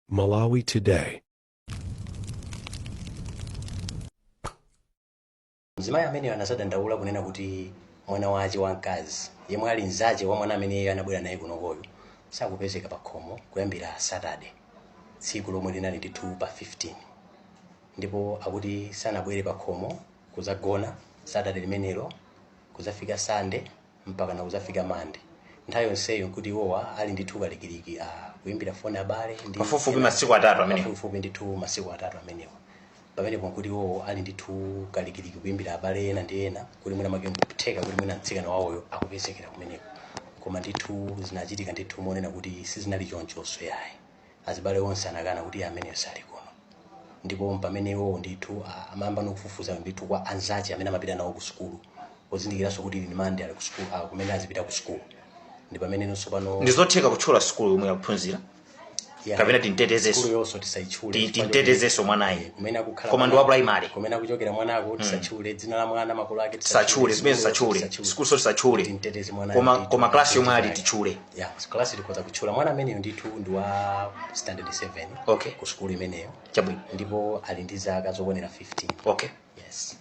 Malawi Today. mzimayi ameneyo anazadandaula kunena kuti mwana wace wamkazi yemwe ali mzace wa mwana amene iye anabwera naye kunokoyo sakupezeka pa khomo kuyambira satade tsiku lomwe linali ndithu pa 15 ndipo akuti sanabwere pa khomo kuzagona satade limenelo kuzafika sande mpakana kudzafika Monday. Nthawi yonseyo nkuti iwowa ali ndithu kalikiliki a kuimbira foni abale ndi Pafupifupi masiku atatu amenewo. pafupifupi ndithu masiku atatu amenewo pamenepo nkuti iwowo ali ndithu kalikiliki kuimbira abale ena ndi ena kuti mwina make nkutheka kuti mwina mtsikana wawoyo akupezekera kumeneko koma ndithu zinachitika ndithu monena kuti sizinali chonchonso yayi Azibale onse anakana kuti iye ameneyo sali kuno. Ndipo mpamene iwowo ndithu a, amayamba nokufufuza ndithu kwa anzace amene amapita nawo ku sukulu, pozindikiranso kuti ili ni Monday ali ku sukulu, a, kumene azipita ku sukulu. Ndi pameneno tsopano. Ndi zotheka kutchula sukulu yomwe akuphunzira? Ya, Kapena timtetezenso? sukulu yonso tisaitchule. Ti- chifukwa timtetezenso choti- mwanayi. Eh, kumene akukhala Koma ndi wa mwana- primary. Kumene akuchokera mwanako tisatchule dzina la mwana makolo ake tisatchule zimene tisatchule sukuluso tisatchule Timteteze mwanayo koma ndithu. koma klasi yomwe ali Timteteze. titchule ya class tikhoza kutchula mwana ameneyo ndithu ndi wa standard 7 Okay. ku sukulu imeneyo Chabwino. ndipo ali ndi zaka zokwanira 15 Okay. yes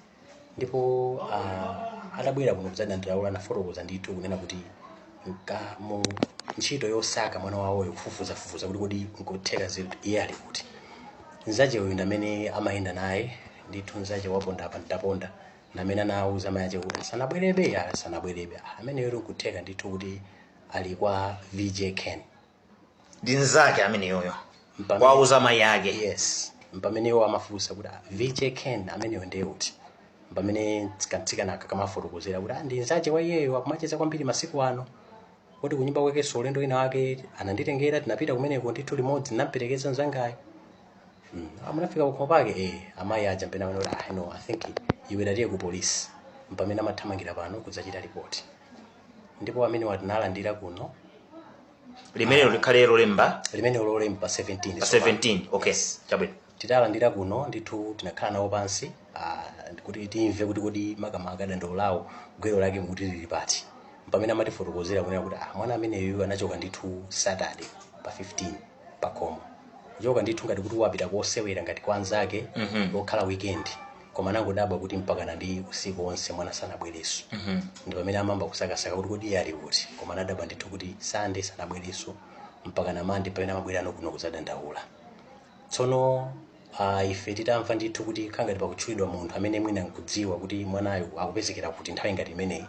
ndipo uh, atabwera kuno kudzadandaula anafotokoza ndithu kunena kuti nka- mu ntchito yosaka mwana wawoyo kufufuzafufuza kuti kodi nkutheka zinthu iye ali kuti nzache uyu ndamene amayenda naye ndithu nzache waponda apa ndaponda ndamene anawuza mai ache kuti sanabwerebe ya sanabwerebe Ah, ameneyo nkutheka ndithu kuti ali kwa vj ken ndi nzake ameneyoyo Mpamene- kuwauza mayi ake yes mpamene iwo amafunsa kuti ah, vj ken ameneyo ndiye uti mpamene kamtsikana aka kamafotokozera kuti ah, ndi nzache wa iyeyo akumacheza kwambiri masiku ano kuti kunyumba kwakenso ulendo wina wake ananditengera tinapita kumeneko ndithu limodzi ndinamperekeza nzangayo Mm, munafika pakhomo pake eh amayi aja mpena kuti ah no i think iwe tatiye ku polisi mpamene amathamangira pano kudzachita ripoti ndipo amenewa tinawalandira kuno limenelo likhale lolemba limene ulole mpa 17 pa 17 okay chabwino titalandira kuno ndithu tinakhala nawo pansi ah, kuti timve kuti kodi makamaka dandaulo lawo gwero lake mukuti lili pati mpamene amatifotokozera kunena kuti ah, mwana ameneyu anachoka ndithu saturday pa 15 pakhomo kuchoka ndithu ngati kuti wapita kosewera ngati kwa anzake Mhm. lokhala weekend koma anangodabwa kuti mpakana ndi usiku wonse mwana sanabwereso Mhm. ndi pamene amayamba kusakasaka kuti kodi iye ali kuti koma anadabwa ndithu kuti sande sanabwereso mpakana mande pamene amabwerano kuno kuzadandaula tsono Ah, ife titamva ndithu kuti khala ngati pakutchulidwa munthu amene mwina nkudziwa kuti mwanayo akupezekera kuti nthawi ngati imeneyi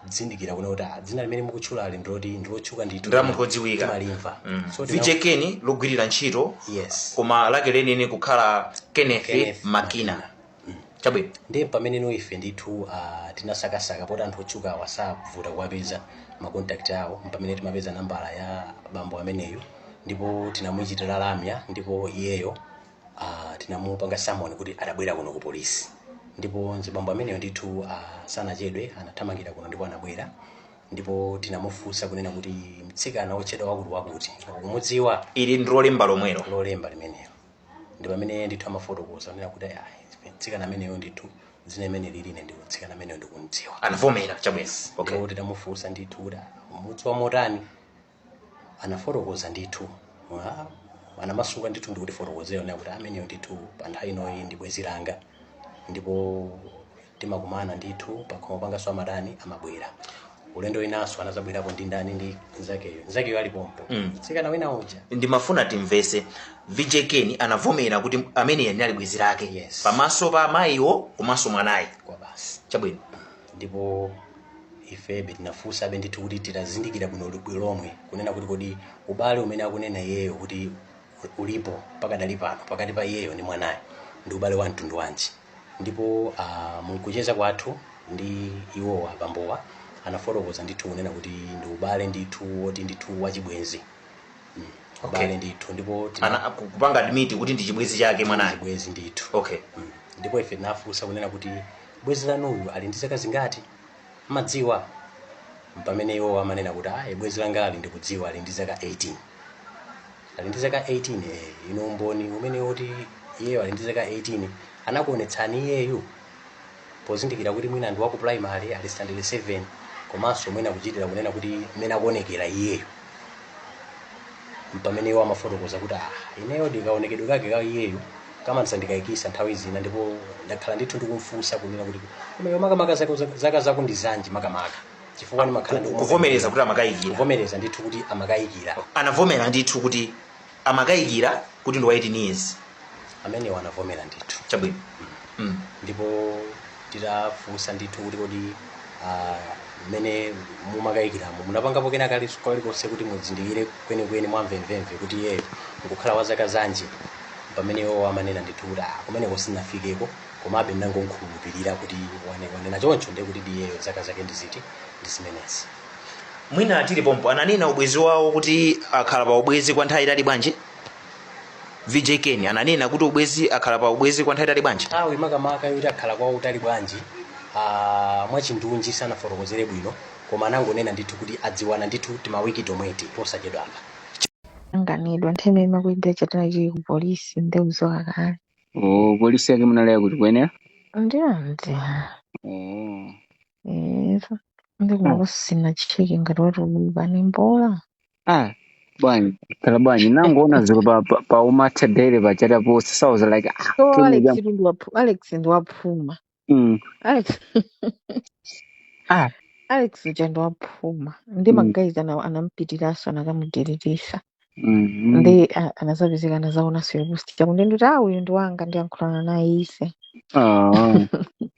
tinazindikira kuno kuti ah, dzina limene mukutchulali ndiloti ndilotchuka ndithu Ndi la munthu wodziwika. timalimva Mm. so tina- vj ken logwirira ntchito yes koma lake lenileni kukhala kenneth Kenneth makina chabwino ndiye pamene ife ndithu uh, tinasakasaka poti anthu otchukawa savuta kuwapeza makontakti awo mpamene timapeza nambala ya bambo ameneyo ndipo tinamuchitira lamya ndipo iyeyo uh, tinamupanga samoni kuti abwere kuno ku polisi ndipo mzibambo ameneyo ndithu uh, sanachedwe anathamangira kuno ndipo anabwera ndipo tinamufunsa kunena kuti mtsikana wotchedwa wakuti wakuti ukumudziwa ili ndi lolemba lomwelo lolemba limenelo ndi pamene ndithu amafotokoza kunena kuti ayi mtsikana ameneyo ndithu dzina limeneli ine ndithu mtsikana ameneyo ndikumdziwa anavomera chabwino okay ndipo titamufunsa ndithu kuti mumdziwa motani anafotokoza ndithu Ah, anamasuka ndithu ndikutifotokozera kunena kuti ameneyo ndithu pa nthawi inoyi ndi bwenzi langa ndipo timakumana ndithu pakhomo panganso amatani amabwera ulendo winanso anazabwerapo ndi ndani ndi nzakeyo nzakeyo ali pompo Mm. mtsikana wina uja ndimafuna timvetse vj ken anavomera kuti ameneyu anali bwenzi lake Yes. pamaso pa amayiwo komanso mwanayu kwa basi chabwino ndipo ifebe tinafunsabe ndithu kuti tizindikire bwino bwino lomwe kunena kuti kodi ubale umene akunena iyeyo kuti ulipo pakadali pano pakati pa iyeyo ndi mwanayo ndi ubale wa mtundu wanji ndipo uh, mkucheza kwathu ndi iwowa bambowa anafotokoza ndithu kunena kuti ndi ubale ndithu woti ndithu wachibwenzi mm. Okay. ubale ndithu ndipo tina- ana aku- kupanga admit kuti ndi chibwenzi chake mwanayo chibwenzi ndithu okay Mm. ndipo ife tinafunsa kunena kuti bwenzi lanuyu ali ndi zaka zingati mumadziwa mpamene iwo amanena kuti ayi bwenzi langali ndikudziwa ali ndi zaka 18 ali ndi zaka 18 eh, inu umboni umene woti iyeyo ali ndi zaka 18 anakuonetsani iyeyu pozindikira kuti mwina ndi waku primary ali standard 7 komanso mwina kuchitira kunena kuti mmene akuonekera iyeyo mpamene iwo amafotokoza kuti ah ineyo ndikaonekedwe kake ka iyeyo kamandisa- ndikayikitsa nthawi zina ndipo ndakhala ndithu ndikumfunsa kunena kuti koma iwe makamaka zako- zaka zako ndi zanji makamaka chifukwa ndimakhala ndikuona- kuvomereza kuti amakayikira kuvomereza ndithu kuti amakayikira anavomera ndithu kuti amakayikira kuti ndi wa 18 years ameneyo anavomera ndithu chabwino mm. ndipo titafunsa ndithu kuti kodi ah, mmene mumakayikiramo munapangapo kena kali kalikonse kuti muzindikire kwenikweni mwamvemvemve kuti iyeyo nkukhala wa zaka zanji pamene iwo amanena ndithu kuti "Ah, kumeneko sindinafikeko komabe ndangomkhulupirira kuti wane- wanena choncho ndiye kuti iyeyo zaka zake ndiziti ndi zimenezi mwina tili pompa ananena ubwenzi wawo kuti akhala pa ubwenzi kwa nthawi yaitali bwanji vj ken ananena kuti ubwenzi akhala pa ubwenzi kwa nthawi yaitali bwanji nthawi makamaka yoti akhala kwa utali bwanji ah, mwachindunji sanafotokozere bwino koma anangonena ndithu kuti adziwana ndithu timawiki tomweti posachedwapa anganidwa nthawi imakwidira chatana chili ku polisi nde uzoka kale Oh, polisi ake munalaya kuti kuyenera? ndiyonzi Oh. Eva. Ndi koma Ah. kusina cheke ngati watuluka ni mbola. ah bwanji khala bwanji nangoona ziko pa pa, pa umatha daily pa chani ma post so i was like ah So kini Alex jam ndi waphuma Alex ndi waphuma. mm Alex ah Alex uja ndi waphuma. Ndi mm magayizi aja anampitiranso anakamudiririsa. mm Ndi ah, anazapezeka anazaonanso post chakuti ndi kuti uyu ndi wanga ndiyankhulana naye ise. ah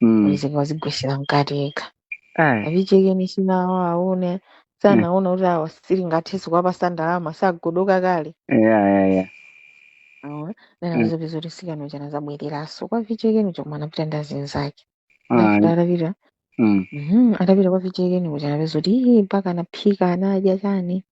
Mm. izi wazigwetsera mkati yekha Ai. a vijekeni sinawaone Yeah. sanaona kuti awa sitingathenso kuwapatsa ndalama sagodoka kale Yeah, yeah, yeah. aona nena Mm. anazapeza kuti sikano chana zabwereranso kwa vijekeni koma anapita ndi azinzake Ai. ndafika atapita Mm. Mhm, atapita kwa vijekeni kuja anapeza kuti "Ih, mpaka anaphika anadya chani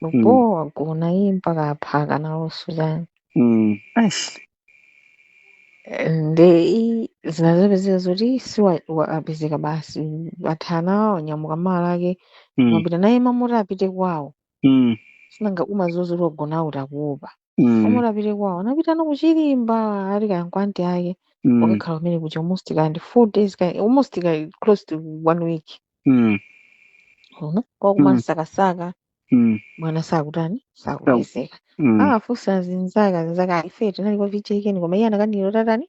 Lupo Mm. wagona iye mpaka apanga nawonso chani Mm. Eish. nde i- zinazapezeka zoti si wa- wa- apezeka basi athana naye wanyamuka malo ake Mm. m'mapita naye mmamuti apite kwawo Mm. si nanga umaziwa zoti wagona kuti akuopa mm, koma atapita kwawo anapita ano kuchilimba ati kaya nkwa anti ake mm, wakakhala kumene kuja almost kaya ndi four days kaya almost kaya close to one week mm, uko kwawo mm, kumasakasaka mm, mwana sakutani sa- sakupezeka mm, akafunsa azinzake azinzake ife tinali kwa vijekeni koma iye anakanira tatani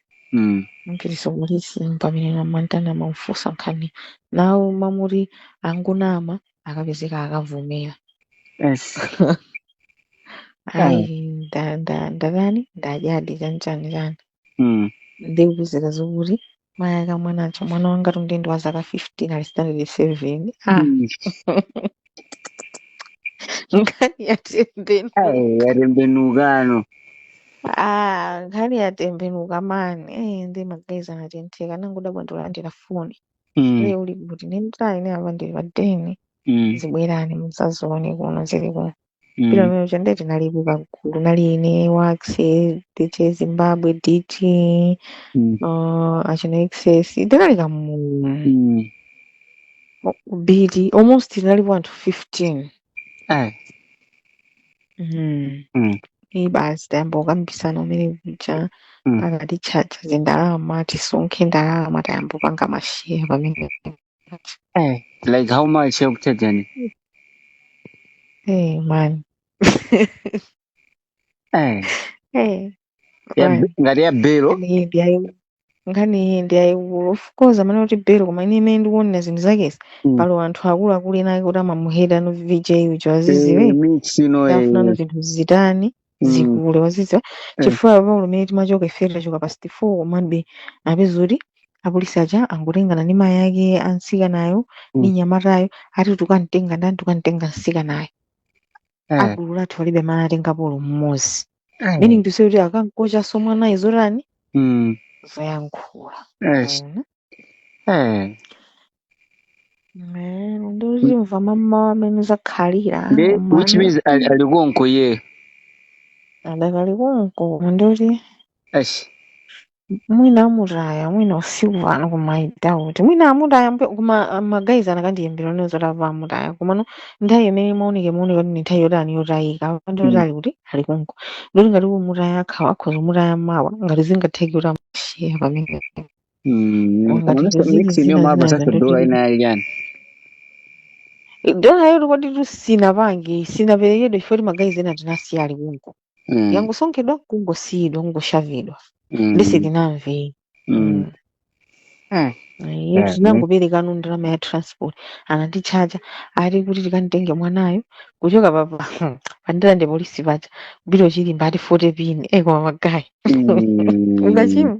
Mm. kupolisi mpamene amamtani amamfunsa nkhani nawo amati angonama akapezeka akavomera Yes. ayi nda- nda- ndatani ndadyadi chani chani Mm. ndikupezeka zokuti mayi ake a mwanayo mwana wangatu nde ndi wa zaka 15 ali standard 7 ah Mm. nkhani yatembenuka Ai, yatembenukano ah, nkhani yatembenuka mani eh, ndi magayizi anatentheka anangodabwa akulandira foni mm, iye uli kuti ndi nthawi ine apa ndili pa deni mm, zibwerani muzazione kuno zili kuno Pita mm. kumene kuja ndiye tinalipo kagulu, kunali ine, Waxy, DJ Zimbabwe, DT, Mm. uh, achina XS, tinali kamulu Mm. ka big, almost tinalipo anthu 15. Eh. Mm. Mm. Iyi basi tayamba kukambisana kumene kuja Mm. akatitchaja zindalama tisonkhe ndalama tayamba kupanga masheya pamene Hey, like how much you've taken? Hey, man. Hey, Hey, yeah, b- Brian. ngati ya Bello. Nkhani iyi ndi yayi- nkhani iyi ndi yayikulu. Of course, amanena kuti Bello, koma ine mmene ndikuonera zinthu zake izi, Mm. pali anthu akuluakulu ena ake kuti amamuheda no VJ uja Eh, waziziwe. mix ino afunano eh. zinthu zitani. Mm. zikule wazidziwa Eh. chifukwa paulo mmene timachoka ife tachoka pa 64 komabe apeza kuti apolisi aja angotengana ndi mayi ake a mtsikanayo ndi Mm. mnyamatayo ati tukamtenga ndani tukamtenga mtsikanayo Eh. agulu lathu palibe amene atengapo olo mmodzi Eh. meaning to say kuti akamkochaso mwanayo zotani Mm. zoyankhula Yes. Mwaona? Eh. Eh, nde tizimva mamawa mmene zakhalira nde which means ali ali konko iyeyo adakali konko ndi kuti Eish. mwina amutaya mwina usiku pano koma i doubt mwina amutaya mpe- koma ah, magayizi akanandiimbira ndizomva amutaya komano nthawi imene imaoneka imaoneka kuti ndi nthawi yotani yotayika ndi kuti Mm. ali kuti ali konko ndikuti ngati kumutaya akhawa akhoza kumutaya mawa ngati zingatheke kuti amushiya pamene dola yoti kodi tusinapange sinaperekedwe chifukwa timagayizi ena tinasiya ali konko mm. yangosonkhedwa kungosiyidwa kungoshavidwa mm. nde sitinamve mm. mm. iye eh, tinangoperekano ndalama ya transport anatitchaja ati kuti tikamtenge mwanayo kuchoka papa pa Ndirande polisi paja kupita Chirimba ati 40 pin e koma magayi mm. ungachima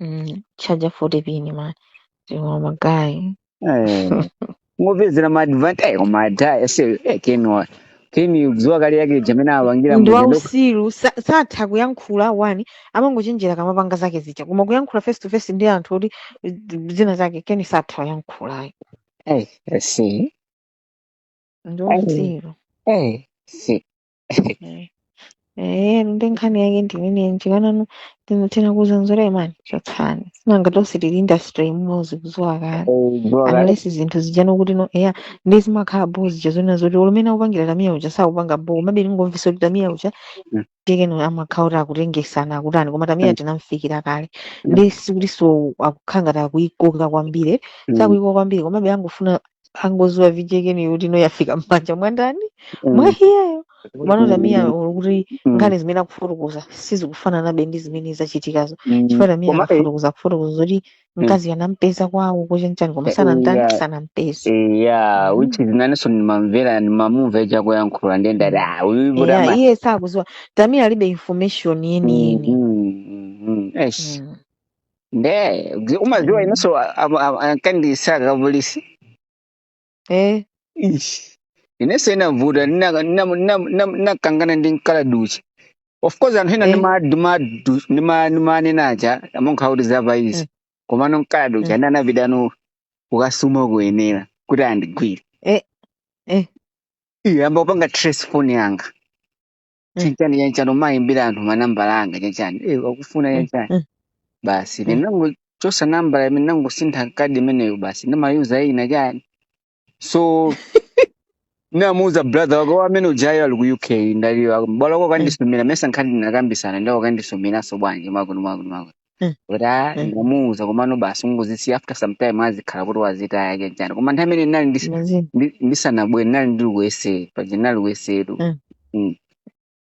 Mm, kutchaja 40 pin man. Tiwa magayi. Eh, ngopezera ma advantage koma adha se eh, kenwa keni kudziwa kale VJ mmene apangira Ndi muja ndi wauchitsiru sa- satha kuyankhula wani amangochenjera kamapanga zake zija koma kuyankhula face to face ndi anthu kuti zina zake keni satha kuyankhulayo eh se ndi eh wauchitsiru eh se Eh, eh, nde nkhani yake ndimene njikanano ndinotena kudza mzanga man chotsani sinanga tonse tili industry imodzi kuziwa kale Bro, kale unless zinthu zijano kuti no eya nde zimakhala bo zija zonena zoti olo mmene akupangira tamiya uja sakupanga bo komabe ndingomvesa kuti tamiya uja Mm, tekeno amakhala kuti akutengesana akutani koma tamiya mm, tinamfikira kale mm, nde sikuti so akukhala ngati akuikoka kwambiri mm, sakuikoka kwambiri komabe angofuna angoziwa VJ keni kuti no yafika mmanja mwandani Mm. mwa iyeyo komano tamiya Mm. olo kuti Mm. nkhani zimene akufotokoza sizikufananabe ndi zimene zachitikazo Mm. chifukwa tamiya Koma, eh, akafotokoza akufotokoza zoti mkazi anampeza kwawo ku Machinjiri koma Eh, sanamtani yeah. sanampeze eya Mm. which is inenso ndimamvera ndimamumva uja akuyankhula ndiye ndati ah uyu iye potama iye sakuziwa tamiya alibe information yeniyeni Mm, mm, mm, mm. Eish. Mm. nde zi- umadziwa Mm. inenso a- a- a- ankandisaka apolisi Eh, Ish. inenso inavuta nina- nina- nina- nina- ninakangana ndi mkala duchi of course anthu ena eh, nima- nima- du- nima- nimanena aja amonkha kuti zapa izi eh, koma nomkala duchi eh, ana anapitano kukasuma kuyenera kuti andigwire eh, eh, iyo ayamba kupanga trace phone yanga Mm. chanchani chanchani kumayimbira anthu manambala anga chanchani eh akufuna Mm. chanchani Mm. basi Mm. ndinangochosa nambala imene ndangosintha kadi imeneyo basi ndimayuza ina chani so namuuza brother wako amene ujayo ali ku uk ndaliwa mbale wako Mm. akandisumira mesa nkhani ndinakambisana ndiwo akandisumiranso bwanji mwakuno mwakuno mwakuno Mm. kuti a Mm. ndamuuza komano basi ingozisiya after some time azikhala kuti wazitaya chani chani koma nthawi imene ndinali ndis- Imagine. ndi- ndisanabwere ndinali ndili kuyesera paja ndinali kuyesetu Mm. Mm.